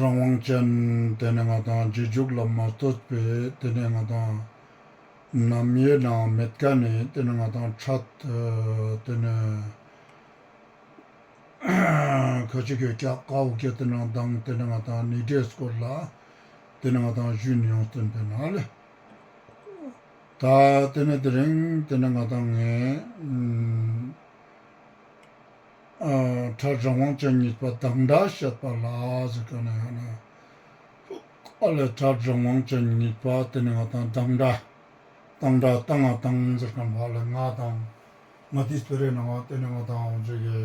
རང་དབང་ཅན། དེ་ནི་ང་དང་རྗེས་འཇུག་ལ་མ་ལྟོས་པས་དེ་ནི་ང་དང། ནམ་ཡོད་ནའང་མེད་དཀའ་ནི་དེ་ནི་ང་དང་ཕྲད། དེ་ནི། ཁ་ཅིག་གིས་སྐྱག་ཀ་འུ་སྐྱེ་དེ་ནི་མདངས་དེ་ནི་ང་དང་ནི་འདྲེས་སྐོར་ལ། དེ་ནི་ང་དང་བཞུད་ནི་ཡོངས་བརྩོན་པའི་ནགས་ལས། ད་དེ་ནི་དེ་རིང་དེ་ནི་ང་དང་ངའི། ཁྲ་རང་དབང་ཅན་ཉིད་པ་བདག་འདྲ་བཤད་པ་ལ་ཟེར་ག་ནས་ཡང་ན་ཨ་ལས་ཁྲ་རང་དབང་ཅན་ཉིད་པ་དེ་ནི་ང་དང་བདག་འདྲ་བཏང་འདྲ་བཏང་ང་དང་ཟེར་ག་བ་ལས་ང་དང་ང་དེའི་ཚོད་རེད་ན་བ་དེ་ནི་ང་དང་བ་ཟེར་གི།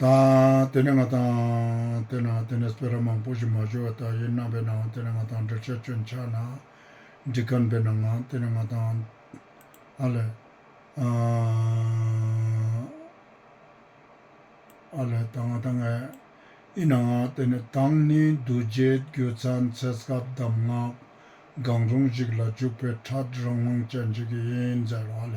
དང། དེ་ནས་ང་དང། དེ་ན་དེ་ནས་སྤོས་ར་མང་པོ་ཞིག་མ་ཞོ་བ་དག་ཡིན་སྣང་བས་ན་འང་དེ་ནས་ང་དང་འབྲེལ་ཆགས་ཁྱོད་འཆགས་ན། འགྲིག་གམ་བས་ན་འང་དེ་ནས་ང་དང། ཨ་ལས། ཨ་ལས་དང་ང་དང་ཨས། ཨི་ན་འང་དེ་ནས་དང་ནི་རྡོ་རྗེ་རྒྱུ་ཚང་ཚད་སྐབས་གདམས་ངག་གང་རུང་ཞིག་ལ་འཇུག་པའི་ཕྲག་རང་དབང་ཅན་ཞིག་ཡིན་ཟེར་བ་ལས།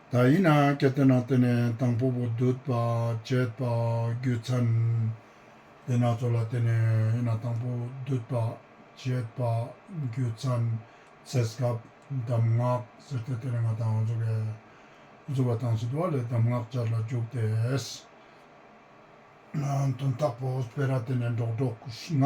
ད་ཡིན་ན་གལ་ཏེ་ན་དེ་ནས་དང་པོ་པོ་སྡུད་པ་བྱེད་པ་རྒྱུ་མཚན་དེ་སྣ་ཚོགས་ལ་དེ་ནས་ཡིན་ན་དང་པོ་སྡུད་པ་བྱེད་པ་རྒྱུ་མཚན་ཚེ་སྐབས་གདམས་ངག་ཟེར་ཏེ་དེ་ནས་ང་དང་གཟུགས་ཀྱི་གཟུགས་པ་དང་སྲིད་པ་ལས་གདམས་ངག་བརྒྱར་ལ་འཇུག་སྟེ། དོན་དག་པོ་སྤེལ་ར་དེ་ནས་འགྲོགས་འགྲོགས་ལྔ།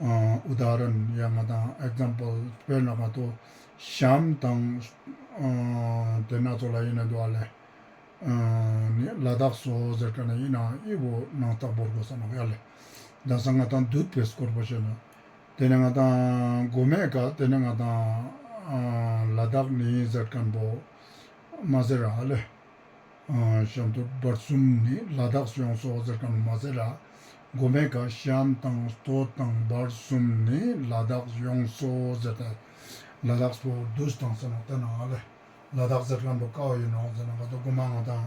ཨུ་དཱ་རན། ཡ་ང་དང Example དཔེར་ན་གང་དུ་བྱའམ་དང། དེ་སྣ་ཚོགས་ལ་ཡེ་ནས་འདུ་བ་ལས། ནི་ལ་དྭགས་སོ་ཟེར་གྲ་ན་ཡིན་ནའང་དབྱིབས་བོ་ནང་རྟགས་བོར་དགོས་སམ་ཡ་ལས། དང་སང་ང་དང་འདུད་པས་སྐོར་བོ་བྱས་ན། དེ་ནི་ང་དང་དགོས་མེད་ཀ་དེ་ནི་ང་དང། ལ་དྭགས་ནི་ཡིན་ཟེར་གྲ་ན་བོ། མ་ཟེར་ཡ་ལས། ཤམ་དུ་སྦར་གསུམ་ནི་ལ་དྭགས་སུ་ཡང་སོ་བ་ཟེར་ག་མ་མ་ཟེར་ར། སྒོ་མེད་ཀ་ཤམ་དང་ཟློ་དང་སྦར་གསུམ་ནི་ལ་དྭགས་སུ་ཡང་སོ་བ་ཟེར་ཏེ། ལ་དྭགས་སུ་བདུད་དང་ཟེར་ན་བསྟན་ན་ང་ལ་ལ་དྭགས་ཟེར་ག་འདུག་ཀ་བ་ཡིན་ནོ་ཟེར་ན་ང་ཚོ་སྒོ་མ་ང་དང་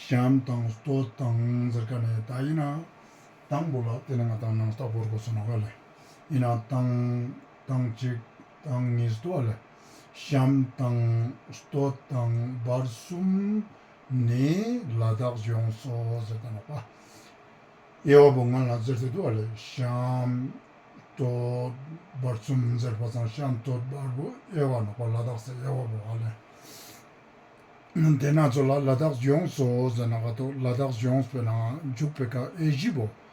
ཤམ་དང་ཟློ་དང་ཟེར་ག་ནི་ད་ཡིན་ན་དང་པོ་ལ་བསྟན་ན་ང་དང་ནང་རྟགས་བོར་དགོས་ཟེར་ན་ང་ལ་ཡིན་ན་དང་དང་གཅིག་དང་གཉིས་ཟློ་བ་ལ། གཤམ་དང་སྟོད་དང་བར་གསུམ་ནས་ལ་དྭགས་ལྗོངས་སོ་ཟེར་ཏེ་ལགས་པ། དབྱེ་བ་པོ་ང་ལ་ཟེར་ཏེ་འདུག་ཨ་ལས་གཤམ་སྟོད་བར་གསུམ་ཟེར་བ་དང་གཤམ་སྟོད་བར་པོ་དབྱེ་བ་ལགས་པ་ལ་དྭགས་ཟེར་དབྱེ་བ་པོ་ཨ་ལས་འདས་ན་ཚོ་ལ་ལ་དྭགས་ལྗོངས་སོ་ཟེར་ན་ཀ་ཐོག་ལ་དྭགས་ལྗོངས་པས་ན་འཇུག་པའི་ཀ་ཨེ་བཞི་པོ་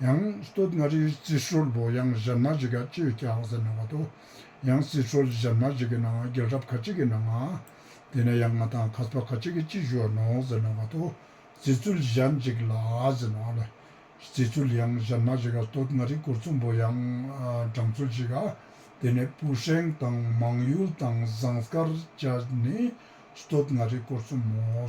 ཡང་སྟོད་མངའ་རིས་རྩིས་ཧྲུལ་བོ་ཡང་གཞར་མ་རིག་ཀ་ཅོས་ཀྱག་ཟེར་ནང་བ་དོ། ཡང་རྩིས་ཧྲུལ་གཞར་མ་རིག་གི་ནང་རྒྱལ་རབས་ཁ་ཅིག་གི་ནང་ང། དེ་ནས་ཡང་ང་དང་ཁ་ཚ་བ་ཁ་ཅིག་གི་ཅི་བཞུ་བ་ནོག་ཟེར་ནང་བ་དོ། རྩིས་ཚུལ་གཞར་འཇིག་ལ་ཟེར་ནང་བ་ལ། རྩིས་ཚུལ་ཡང་གཞར་མ་རིག་ཀ་སྟོད་མངའ་རིས་གུར་ཚུམ་བོ་ཡང་འབྲང་ཚུལ་གཅིག་ག། དེ་ནས་སྤུ་ཧྲེང་དང་མང་ཡུལ་དང་ཟངས་དཀར་བཅས་ནི་སྟོད་མངའ་རིས་གུར་ཚུམ་མོ།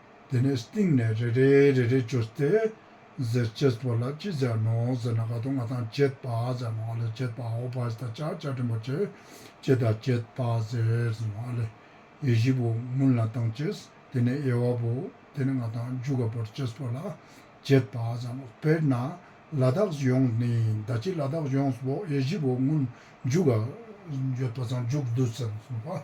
དེ་ནས་སྟེང་ནས་རེ་རེ་རེ་རེ་བྱོས་ཏེ། ཟེར་ཅེས་པོ་ལ་ཅི་བྱ་ནོ་ཟེར་ན་ག་དུ་ང་དང་བྱེད་པ་ཟེར་ནོ་ཨ་ལས་བྱེད་པ་ཨོ་བྷ་ཨིས་ད་ཅག་བཅའ་ཕྲན་པོ་བྱེད་ཅེས་ད་བྱེད་པ་ཟེར་ཟེར་ནོ་ཨ་ལས་ཡེ་བཞི་པོ་མུན་ལ་དང་བྱེས་དེ་ནས་དབྱེ་བ་པོ་དེ་ནི་ང་དང་འཇུག་ག་པོར་བྱེས་པོ་ལ་བྱེད་པ་ཟེར་ནོ་དཔེར་ན་ལ་དྭགས་སུ་ཡོངས་ནི་ད་ཅི་ལ་དྭགས་ཡོངས་སུ་པོ་དབྱེ་བཞི་པོ་མུན་འཇུག་ག་འཇུག་ག་པོ་དང་འཇུག་བསྡུ་ཟེར་ནོ་ཟེར་ནོ་པ།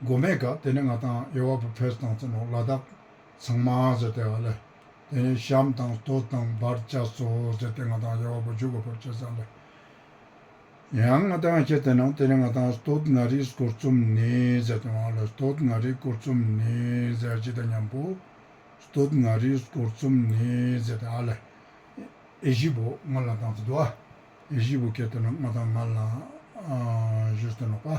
མགོ་མེད་ཀ་དེ་ནས་ང་དང་ཡོ་བ་པུ་བྷེས་དང་ཚེ་ནོར་ལ་དྭགས་ཚང་མ་ཟེར་ཏེ་ཨ་ལེ། དེ་ནས་ཤམ་དང་སྟོ་དང་འབར་བཅའ་སོ་ཟེར་ཏེ་ང་དང་ཡོ་བ་པུ་བཞུགས་དགོས་པར་བྱས་ས་ལ། ཡང་ང་དང་ཁྱེད་དེ་ནང་དེ་ནས་ང་དང་སྟོ་ན་རིའི་སྐོར་རྩོམ་ནི་ཟེར་ཏེ་ཨ་ལེ་སྟོ་ན་རིའི་སྐོར་རྩོམ་ནི་ཟེར་ཅི་ད་སྙམ་པོ། སྟོ་ན་རིའི་སྐོར་རྩོམ་ནི་ཟེར་ཏེ་ཨ་ལེ། ཨེ་བཞི་པོ་ང་ལ་དང་ཚེ་དུ་ཨ། ཨེ་བཞི་པོ་ཁྱེད་དེ་ནང་ང་དང་ང་ལ་བཞུགས་ཚེ་ནོར་པ།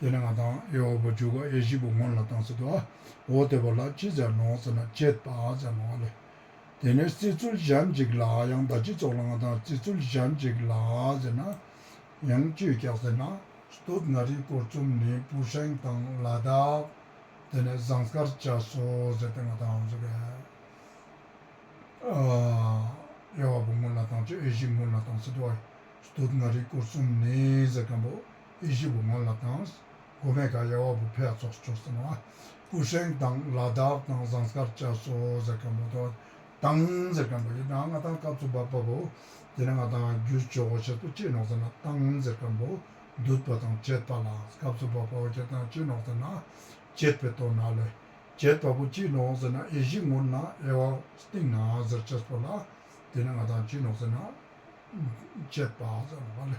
དེ་ནས་ང་དང་ཡེ་ཧོ་ཝཱ་བྱུག་ག་ཡེ་ཤི་པོ་ངོ་ལ་བཏང་ཟེར་ཏོ། འོ་དེ་བ་ལགས་ཅི་ཟེར་ནོ་ཟེར་ན་ཅད་པ་ཟེར་ནོ་ཨ་ལེ། དེ་ནས་བརྩི་ཚུལ་གཞན་ཅིག་ལ་ཡང་བདག་སྤྱི་ཚོགས་ལ་ང་དང་བརྩི་ཚུལ་གཞན་ཅིག་ལ་ཟེར་ན། ཡང་བཅོས་རྒྱག་ཟེར་ན། སྟོད་མངའ་རིས་སྐོར་རྩོམ་ནི་པུའུ་ཧྲེང་དང་ལ་དྭགས། དེ་ནས་ཟངས་དཀར་བྱ་སོ་ཟེར་ཏེ་ང་དང་ཟེར་བས། ཡེ་ཧོ་ཝཱ་པོ་ངོ་ལ་བཏང་ཅོག་ཡེ་ཤི་ངོ་ལ་བཏང་ཟེར་ཏོ། སྟོད་མངའ་རིས་སྐོར་རྩོམ་ནི་ཟེར་གམ་བོ། ཨི་ཇིབ་བུ་མོ་ལ་དང། གོ་མེ་ག་ཡ་བ་བུ་ཕེ་ཡ་ཚོགས་སུ་བྱོ་ཟེར་ན། ཨུ་ཧྲེང་དང་ལ་དྭགས་དང་ཟངས་སྐར་བཅའ་སོ་ཟེར་མཁན་པོ་དོ། ཏང་ཟེར་མཁན་པོ་ཡི་དང་ང་དང་སྐབས་སུ་བབ་པ་བོ། དེ་ནི་ང་དང་རྒྱུ་བྱོ་བོ་ཆེར་དུ་ཅི་ནོག་ཟེར་ན་ཏང་ཟེར་མཁན་པོ། འདུད་པ་དང་བྱེད་པ་ལ་སྐབས་སུ་བབ་པ་བོ་ཁྱེད་དང་ཅི་ནོག་ཟེར་ན། བྱེད་པའི་དོ་ན་ལས། བྱེད་པ་བོ་ཅི་ནོག་ཟེར་ན་ཨི་ཇིབ་ངུར་ན་ཨེ་བ་སྟིང་ན་ཟེར་བྱེད་སོ་ལ། དེ་ནི་ང་དང་ཅི་ནོག་ཟེར་ན། བྱེད་པ་ཟེར་བ་ལས།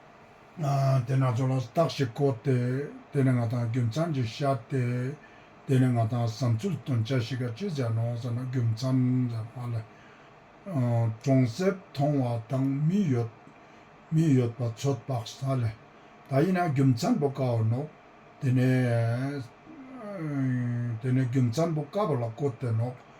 དེ་སྣ་ཚོགས་ལ་རྟགས་ཞིག་བཀོད་དེ་དེ་ནི་ང་དང་རྒྱུ་མཚམས་ཀྱི་ཤ་སྟེ། དེ་ནི་ང་དང་བསམ་ཚུལ་དོན་བྱ་ཞིག་ག་ཅི་བྱས་ནོ་ཟེར་ན་རྒྱུ་མཚམས་ལས་མ་ལས། གྲོང་གསེབ་མཐོང་བ་དང་མི་ཡོད་མི་ཡོད་པ་ཚོད་དཔག་ས་ལས། ད་ཡིན་ན་རྒྱུ་མཚམས་པོ་དཀའ་བ་ནོ། དེ་ནི་རྒྱུ་མཚམས་པོ་དཀའ་བ་ལ་བཀོད་དེ་ནོ།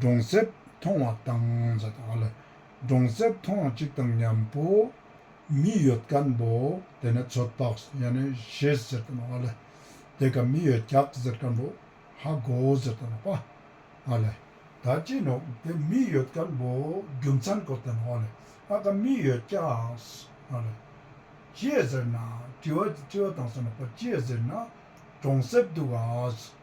གྲོང་གསེབ་མཐོང་བ་དང་གྲོང་གསེབ་མཐོང་བ་གཅིག་དང་མཉམ་པོ། མི་ཡོད་སྐམ་པོ་དེ་ནི་ཚོད་དཔག་བྱེད་ཟེར་དང་བ་ལེ། དེ་ག་མི་ཡོད་རྒྱག་ཟེར་སྐམ་པོ་ཧ་གོ་ཟེར་དང་བ་ལེ། ད་ཅི་ནོ་དེ་མི་ཡོད་སྐམ་པོ་རྒྱུ་མཚན་གོ་དང་བ་ལེ། ཨ་ག་མི་ཡོད་རྒྱག་བ་ལེ། ཅེས་ཟེར་ན་དྲི་བ་དང་བ་ཅེས་ཟེར་ན་གྲོང་གསེབ་འདུག་ག།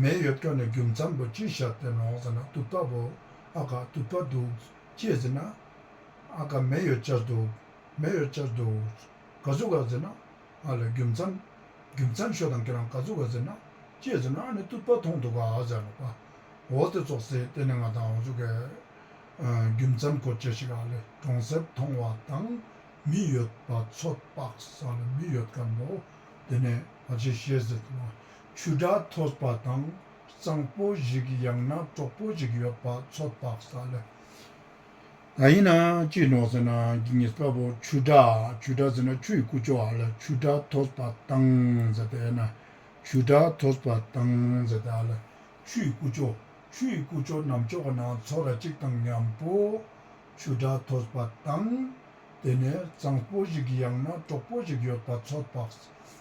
མེ་ཡོད་སྤྲོ་ནས་རྒྱུ་མཚམས་པོ་ཅི་བཞག་བསྟན་ནོ་ཟེར་ན་དུག་ལྟ་བུ། ཨ་ཁ་དུག་པ་འདུག། ཅེས་ཟེར་ན། ཨ་ཁ་མེ་ཡོད་ཅར་འདུག། མེ་ཡོད་ཅར་འདུག། ག་ཟུག་ག་ཟེར་ན། ཨ་ལས་རྒྱུ་མཚམས། རྒྱུ་མཚམས་ཤོ་དང་ཁེ་རང་ག་ཟུག་ག་ཟེར་ན། ཅེས་ཟེར་ན་ཨ་ནི་དུག་པ་མཐོང་འདུག་ག་ཟེར་ན། འོ་དེ་ཙོག་ཟེར་དེ་ནི་ང་དང་ཨོ་ཟུག་གས། རྒྱུ་མཚམས་གོ་བཅད་ཞིག་ཨ་ལས་གྲོང་གསེབ་མཐོང་བ་དང། མི་ཡོད་པ་ཚོད་དཔག་ས་ལ་མི་ཡོད་ག་འདུག་དེ་ནས་ཨ་ཅེས་བཤད་ཟེར་ན། ཆུ་སྒྲ་ཐོས་པ་དང་གཙང་པོ་ཞིག་ཡང་ན་གྲོགས་པོ་ཞིག་ཡོད་པ་ཚོད་དཔག་ས་ལ་ག་ཡིན་ན་ཅི་ནོག་ཟེར་ན་འགྱིག་ཉིས་པ་པོ་ཆུ་སྒྲ་ཆུ་སྒྲ་ཟེར་ན་ཆུ་ཡི་ཀུ་ཅོ་ཨ་ལ་ཆུ་སྒྲ་ཐོས་པ་དང་ཟེར་པས་ན་ཆུ་སྒྲ་ཐོས་པ་དང་ཟེར་ཏེ་ཨ་ལ་ཆུ་ཡི་ཀུ་ཅོ་ཆུ་ཡི་ཀུ་ཅོ་ནམ་ཕྱོགས་ན་ཚོགས་ར་གཅིག་དང་མཉམ་པོ་ཆུ་སྒྲ་ཐོས་པ་དང་དེ་ནས་གཙང་པོ་ཞིག་ཡང་ན་གྲོགས་པོ་ཞིག་ཡོད་པ་ཚོད་དཔག་ས་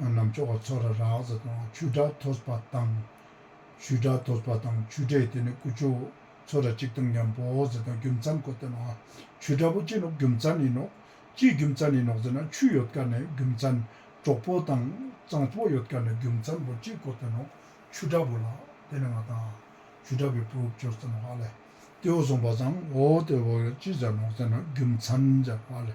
ནམ་མཆོག་གི་ཚོགས་ར་རགས་ཟ་དང་ཆུ་སྒྲ་ཐོས་པ་དང། ཆུའི་སྒྲ་ཐོས་པ་དང་ཆུ་སྒྲས་དེ་ནི་ཀུ་ཅོ། ཚོགས་ར་གཅིག་དང་མཉམ་པོ་ཟེར་དང་རྒྱུ་མཚན་གོ་དེ་ནོ། ཆུའི་སྒྲ་པོ་ཅི་ནོ་རྒྱུ་མཚན་ནི་ནོ། ཅིའི་རྒྱུ་མཚན་ནི་ནོ་ཟེར་ན་ཆུ་ཡོད་དཀའ་ནས་རྒྱུ་མཚན། གྲོགས་པོ་དང་གཙང་པོ་ཡོད་དཀའ་ནས་རྒྱུ་མཚན་པོ་ཅིག་གོ་དེ་ནོ། ཆུ་སྒྲ་པོ་ལ་དེ་ནི་ང་དང། ཆུ་སྒྲ་པོའི་བུ་ཅོ་ཟེར་ནོ་ཨ་ལས། ཏེའོ་གསུངས་པ་བཟང་ངོ་དེའོ་ལ་ཅི་ཟེར་ནོ་ཟེར་ན་རྒྱུ་མཚན་ཟེར་བ་ལས།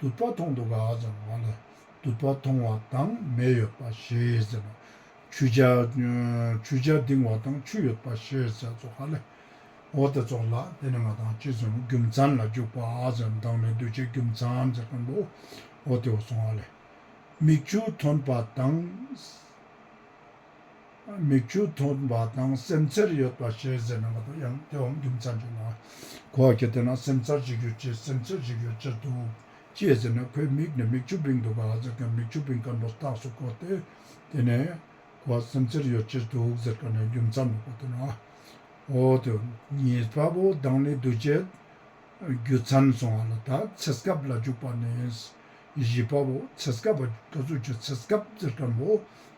དུད་པ་མཐོང་དུ་ག་ཙམ་འོང་ལ་དུད་པ་མཐོང་བ་དང་མེ་ཡོད་པ་ཞེས་ཟེར་ན། ཆུ་བྱ། ཆུ་བྱ་ལྡིང་བ་དང་ཆུ་ཡོད་པ་ཞེས་ཟེར་ཙོག་ག་ལེ། འོ་དེ་ཙོག་ལ་དེ་ནི་ང་དང་ཅི་གསུང་རྒྱུ་མཚན་ལ་འཇུག་པ་ཟེར་མདང་ནི་གདུལ་བྱའི་རྒྱུ་མཚན་ཟེར་གི་འདུག་འོ་དེ་འོ་སོང་ག་ལེ། མིག་ཆུ་ཐོན་པ་དང། མིག་ཆུ་འཐོར་བ་དང་སེམས་འཚེར་ཡོད་པ་ཞེས་ཟེར་ན་མ་གཏོགས་ཡང་སྐྱོ་བའམ་རྒྱུ་མཚན་བྱུང་ན་གོ་གི་དེ་ན་སེམས་འཚར་བྱེད་རྒྱུ་ཅི་སེམས་འཚེར་བྱེད་རྒྱུ་ཅི་འདུག་ཅེས་ཟེར་ན་ཁོའི་མིག་ནས་མིག་ཆུ་བིང་འདུག་ག་ཟེར་མཁན་མིག་ཆུ་བིང་སྐམ་པོ་རྟགས་སུ་གོ་སྟེ་དེ་ནས་ཁོ་སེམས་འཚེར་ཡོད་ཅི་འདུག་ཟེར་ག་ནས་རྒྱུ་མཚན་མི་གོ་དེ་ན་འོ་དེ་ཉིད་དཔའ་བོ་དང་ནི་འདུ་བྱེད་རྒྱུ་མཚན་སོང་བ་ལ་ད་ཚེ་སྐབས་ལ་འཇུག་པ་ནི་བཞི་པའོ་ཚེ་སྐབས་བ་ཀ་ཟུར་གྱི་ཚེ་སྐབས་ཟེར་གྲམ་བུ།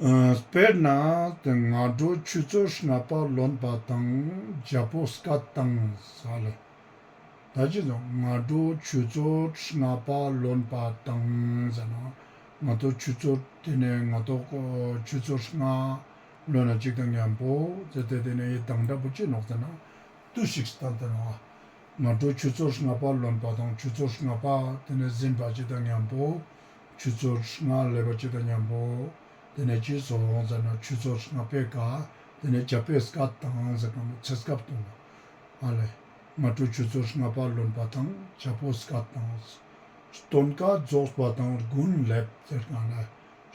དཔེར་ན་སྔ་དྲོ་ཆུ་ཚོད་ཧྲིལ་པ་ལོན་པ་དང་རྒྱལ་པོ་བསྐ་བཏང་ས་ལས། ད་ཅི་དང་སྔ་དྲོ་ཆུ་ཚོད་ཧྲིལ་པ་ལོན་པ་དང་ཟེར་ན་ང་ཐོ་ཆུ་ཚོད་དེ་ནས་ང་ཐོ་ཆུ་ཚོད་ཧྲིལ་ལྔ་ལོན་ན་གཅིག་དང་མཉམ་པོ་ཟེར་ཏེ་དེ་ནས་ཡི་དྭགས་འདྲ་པོ་ཅི་ནོག་ཟེར་ན་ཏུ་ཞིག་ཟེར་ད་དེ་ན་བ་སྔ་དྲོ་ཆུ་ཚོད་ཧྲིལ་པ་ལོན་པ་དང་ཆུ་ཚོད་ཧྲིལ་པ་དེ་ནས་ཟིན་པ་གཅིག་དང་མཉམ་པོ། ཆུ་བཙོ་སྔ་ལས་པ་ཇི་ལྟར་ཉམས་པོ། དེ་ནས་ཆུ་བཙོ་རོང་ཟེར་ན་ཆུ་བཙོ་སྔ་པས་དགའ། དེ་ནས་བྱ་ཕས་སྐ་དང་ཟེར་ན་མོ་ཚེ་སྐབས་གཏོང། ཨ་ལས། ང་དྲུག་ཆུ་བཙོ་སྔ་པ་ལོན་པ་དང་བྱ་ཕོ་སྐ་དང། སྟོན་དཀའ་རྫོགས་པ་དང་དགུན་ལས་ཟེར་ན་ལས།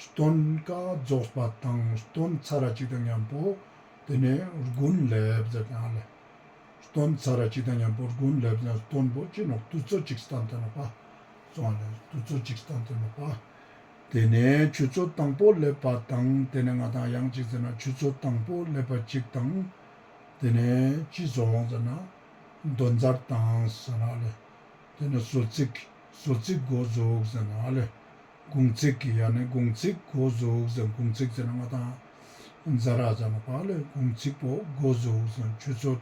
སྟོན་དཀའ་རྫོགས་པ་དང་སྟོན་ཚ་ར་ཇི་ལྟར་ཉམས་པོ། དེ་ནས་དགུན་ལས་ཟེར་ན་ལས། སྟོན་ཚ་ར་ཇི་ལྟར་ཉམས་པོ་དགུན་ལས་ཟེར་ན་སྟོན་པོ་ཅི་ནོག་དུ་བཙོ་ཅིག་སྟ་འཐེན་ནོག་པ། བཙོང་ནས་དུས་ཚོད་གཅིག་སྟངས་དེ་མ་སྤང། དེ་ནས་ཆུ་ཚོད་དང་པོ་སླེབས་པ་དང་དེ་ནས་ང་དང་གཡང་གཅིག་ཟེར་ན་ཆུ་ཚོད་དང་པོ་སླེབས་པ་གཅིག་དང། དེ་ནས་ཅི་ཟོ་འོང་ཟེར་ན་རྡོ་འཛར་དང་ཟེར་ན་ལེ། དེ་ནས་ཟོ་ཚིག་ཟོ་ཚིག་སྒོ་ཟུག་ཟེར་ན་ལེ། དགུང་ཚིག་གི་ཡ་ནས་དགུང་ཚིག་སྒོ་ཟུག་ཟེར་དགུང་ཚིག་ཟེར་ན་ང་དང་གཡང་འཛར་ར་ཟེར་མ་སྤང་ལེ་དགུང་ཚིག་པོ་སྒོ་ཟུག་ཟེར་ཆུ་ཚོད།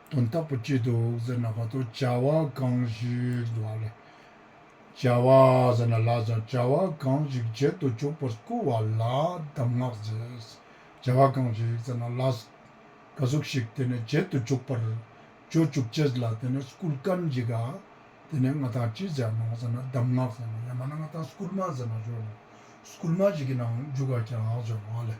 དོན་རྟག་པ་ཅི་འདུག་ཟེར་ན་བར་དོ་བྱ་བ་གང་ཞིག་འདུག་ལ། བྱ་བ་ཟེར་ན་ལ་ཟེར་བྱ་བ་གང་ཞིག་བྱེད་དུ་བཅུག་པར་བསྐུལ་བ་ལ་གདམས་ངག་ཟེར། བྱ་བ་གང་ཞིག་ཟེར་ན་ལ། ག་གཟུགས་ཤིག་དེ་ནི་བྱེད་དུ་བཅུག་པར། བྱོ་བཅུག་བྱེད་ལ་དེ་ནི་བསྐུལ་བཀའན་ཞིག་ག། དེ་ནི་མངའ་ཐང་ཅི་ཟེར་ནོ་ཟེར་ན་གདམས་ངག་ཟེར་ནོ་ཡང་མ་ན་མངའ་ཐང་བསྐུལ་མ་ཟེར་ན་བྱོ་ལ། བསྐུལ་མ་ཞིག་གི་ནང་འཇུག་ག་ཀྱང་ཟེར་བ་ལས།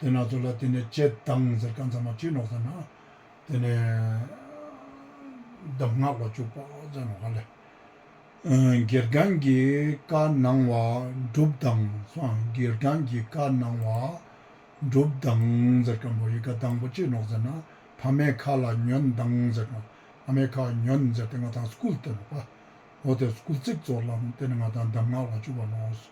དེ་ནག་ཚོ་ལ་དེ་ནས་ལྕེ་བཏང་ཟེར་ཀ་འཛམ་མ་ཁྲིད་ནོག་ཟེར་ན་དེ་ནས་གདམ་ངག་ལ་བཅུག་པོག་ཟེར་ནོག་ཧ་ལས། སྒེར་སྒང་གི་བཀའ་གནང་བ་འགྲུབ་དང་སྒེར་སྒང་གི་བཀའ་གནང་བ་འགྲུབ་དང་ཟེར་ཀ་འབོ་ཡིག་ག་དང་པོ་ཁྲིད་ནོག་ཟེར་ན་ཕ་མའི་ཁ་ལ་ཉོན་དང་ཟེར་ནོག་ཕ་མའི་ཁ་ཉོན་ཟེར་དེ་ང་དང་སྐུལ་བཏོན་པོག་ཏེ་སྐུལ་ཚིག་ཙོག་ལམ་དེ་ནས་ང་དང་གདམ་ངག་ལ་བཅུག་པ་ནོག།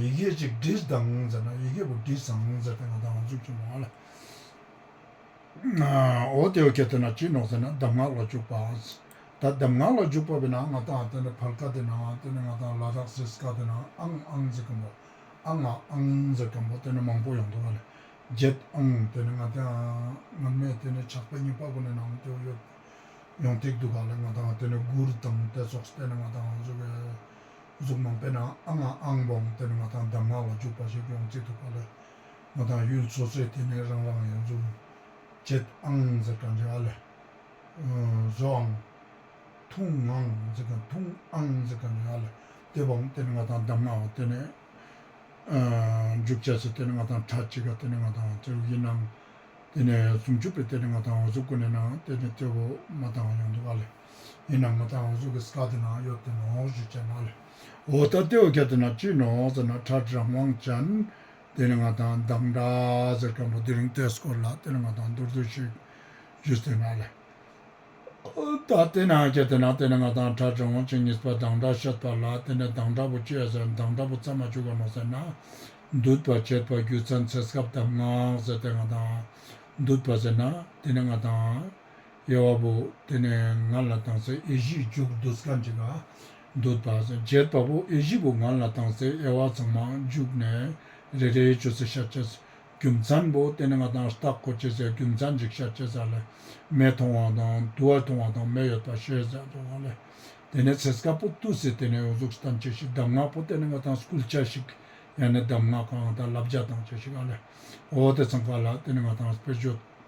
ཡི་གེ་གཅིག་འབྲི་གདངས་ཟེར་ན་ཡི་གེ་དགུ་འབྲི་གཙང་ཟེར་དེ་ན་གདམས་ངག་འཇུག་ཅི་མང་ལ། འོ་དེ་ཀྱེ་དེ་ན་ཅི་ནོག་ཟེར་ན་གདམས་ངག་ལ་འཇུག་པ། ད་གདམས་ངག་ལ་འཇུག་པ་བས་ན་ང་དང་དེ་ནི་བར་དཀའ་དེ་ན་དེ་ནི་ང་དང་ལ་དྭགས་སེར་དཀར་དེ་ན་ཨང་ཨང་ཟེར་གམ་པོ་ཨ་ང་ཨང་ཟེར་གམ་པོ་དེ་ནི་མང་པོ་ཡང་འདུག་བ་ལས་བརྒྱད་ཨང་དེ་ནི་ང་དང་ང་མེད་དེ་ནི་ཆགས་པའི་གཉིས་པ་པོ་ནི་ནང་དུ་ཡོད་ཡང་ཐིག་འདུག་ག་ལ་ང་དང་དེ་ནི་དགུར་དང་དེ་སོགས་དེ་ནི་ང་དང་གཟུགས། གཟུགས་སྣང་དཔེར་ན་ཨ་ང་ཨང་བང་དེ་ནི་ང་དང་གདམས་ངག་ལ་འཇུག་པ་ཞིག་ཡོང་རྩིས་འདུག་པ་ལས་ང་དང་གཡུལ་འཚོ་ཚོད་དེ་ནི་རང་རང་ཡང་གཟུགས་བྱེད་ཨང་འཛིན་གྲ་འཇའ་ལས་བཟོ་ཨང། འཐུང་ཨང་འཛིན་གྲ་འཐུང་ཨང་འཛིན་གྲ་འཇའ་ལས་དེ་བང་དེ་ནི་ང་དང་གདམས་ངག་དེ་ནི་འཇུག་བྱ་ཚོད་དེ་ནི་ང་དང་གྲ་གཅིག་ག་དེ་ནི་ང་དང་གཟུགས་ཡིན་ཨང། དེ་ནི་ཟུང་འཇུག་པའི་དེ་ནི་ང་དང་གཟུགས་ཀུན་ནས་ན་དེ་ནི་གཏོད་པོ་མ་དང་ཡང་འདུག་ག་ལས། ཡིན་ནམ་མི་དང་འོ་ཟུག་གི་སྐ་དེ་ནང་གཡོ་ཏི་ནོག་བཞུ་ཅན་ནག་ལེ་འོ་ད་ཏི་འོ་ཁྱ་དེ་ནང་ཅི་ནོག་ཟེར་ན་ཁྲ་ཁྲི་རང་དབང་ཅན་དེ་ནི་ང་དང་འདང་འདྲ་ཟེར་མཁན་པོ་དེ་རིང་ཏེ་སྐོར་ལགས་དེ་ནི་ང་དང་འདུར་འདུར་བྱེད་བཞུ་ཟེར་ནག་ལེ་འོ་ད་ཏི་ནང་ཁྱ་དེ་ནང་དེ་ནི་ང་དང་ཁྲ་ཁྲི་དབང་ཅན་གཉིས་པ་འདང་འདྲ་ཤད་པ་ལགས་དེ་ནི་འདང་འདྲ་པོ་བཅས་ཟེར་འདང་འདྲ་པོ་རྩ་མ་བྱུག་ག་ནོག་ཟེར་ན་འདུད་པ་བྱེད་པ་རྒྱུ་མཚན་ཚེ་སྐབས་གདམ་ངག་ཟེར་དེ་ང་དང་འདུད་པ་ཟེར་ན་དེ་ནི་ང་དང། དབྱེ་བ་པོ། དེ་ནས་ང་ལ་དང་སའི་དབྱེ་གཞི་བཅུག་བདུད་ཀ་འཇིག་ཨ། བདུད་བ། བརྒྱད་པ་པོ་དབྱེ་གཞི་པོ་ང་ལ་དང་སའི་དབྱེ་བ་ཚང་མ་བཅུག་ནས་རེ་རེའི་ཆུ་ཚོད་ཤ་བཅད། རྒྱུ་མཚན་པོ་དེ་ནི་ང་དང་སྟག་གོ་སྐྱེས་སའི་རྒྱུ་མཚན་འཇིག་ཤ་བཅད་ས་ལས་མེ་མཐོང་བ་དང་དུ་བ་མཐོང་བ་དང་མེ་ཡོད་པ་ཤེས་ས་དུ་བ་ལས། དེ་ནས་ཚེས་ཀ་པོ་ཏུ་སི་དེ་ནས་ཡོངས་རྫོགས་སྟན་བཅས་ཤིག་གདམས་ངག་པོ་དེ་ནི་ང་དང་སྐུལ་བྱ་ཞིག་ཡང་ནི་གདམས་ངག་གང་དང་བསླབ་བྱ་དང་བཅས་ཤིག་ཨ་ལས། འོ་དེ་ཚང་ཀ་ལ་དེ་ནི་ང་དང་སྤེལ་བརྗོད།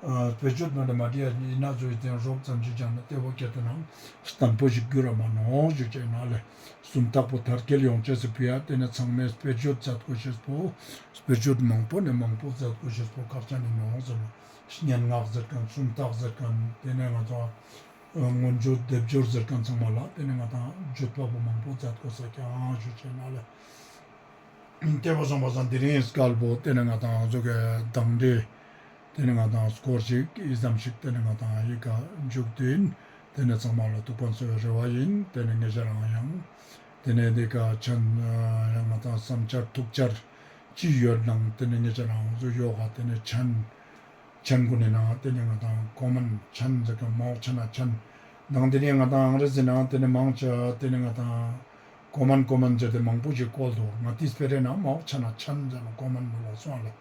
བོད་ཆོས་དོན་དུ་མ་བྲིས་ཡ་ཡིན་ན་གཙོ་བོའི་རྟེན་རོབ་ཙམ་གཅིག་ཀྱང་སྟེར་བ་སྐད་དུ་ནང་དང་པོ་ཞིག་བསྒྱུར་ར་མ་གནོང་ཞེས་བྱས་ན་ལས་གསུམ་དག་པོ་དར་རྒྱལ་ཡོངས་ཁྱེད་སུ་ཕུལ་ཡ་དེ་ནས་ཚང་མས་བོད་ཆོས་མཛད་དགོས་ཞེས་པོ་བོད་ཆོས་མང་པོ་ནས་མང་པོ་མཛད་དགོས་ཞེས་པོ་ཁག་ཆ་ནས་མང་ཟེར་ལ་སྙན་ངག་ཟེར་གང་སུམ་རྟགས་ཟེར་གང་དེ་ནས་ང་ཚོ་སྔོན་བྱོན་སྡེབ་སྦྱོར་ཟེར་གང་ཚང་མ་ལ་དེ་ནས་ང་དང་རྒྱུད་པ་པོ་མང་པོ་མཛད་དགོས་ས་ཀྱང་ཞེས་བྱས་ན་ལས་སྐྱེས་པ་བཟང་པ་བཟང་དེ་རིང་སྐལ་པོ་དེ་ནས་ང་དང་གཟུགས་སྐལ་གདངས་འདྲེས། དེ་ནི་ང་དང་སྐོར་ཅིག་ཡི་ཙམ་ཞིག་དེ་ནི་ང་དང་ཡི་ག་མཇུག་དེ་ཡིན་དེ་ནི་ཚང་མ་ལ་ཐུག་པ་འཚོལ་བའི་རེ་བ་ཡིན་དེ་ནི་ངེད་ཅག་རང་ཡང་དེ་ནས་འདི་ག་ཕྱིན་ཡང་ང་དང་བསམ་འཆར་ཐུག་འཆར་ཅི་ཡོད་སྣང་དེ་ནི་ངེད་ཅག་རང་གཟུགས་གཡོ་ག་དེ་ནས་ཕྱིན་ཕྱིན་དགུ་ནས་སྣང་དེ་ནི་ང་དང་ཀོ་མིན་ཕྱིན་ཟེར་གི་མའོ་ཕྱི་ན་ཕྱིན་སྣང་དེ་ནས་ང་དང་ཨང་རི་སི་སྣང་དེ་ནི་མང་ཅི་དེ་ནི་ང་དང་ཀོ་མིན་ཀོ་མིན་ཟེར་དེ་མང་པོ་ཞིག་བཀོལ་འདུག་ང་དེ་སྤེ་རེ་ན་མའོ་ཕྱི་ན་ཕྱིན་ཟེར་ན་ཀོ་མིན་མི་ལོག་སོང་ལ།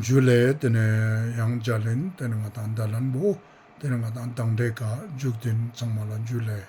འཇུ་ལེ། དེ་ནས་ཡང་འཇའ་ལིན། དེ་ནས་ང་དང་འདའ་ལན་བོ། དེ་ནས་ང་དང་དང་འདྲའི་དགའ། འཇུག་འདི་ཚང་མ་ལ་འཇུ་ལེ།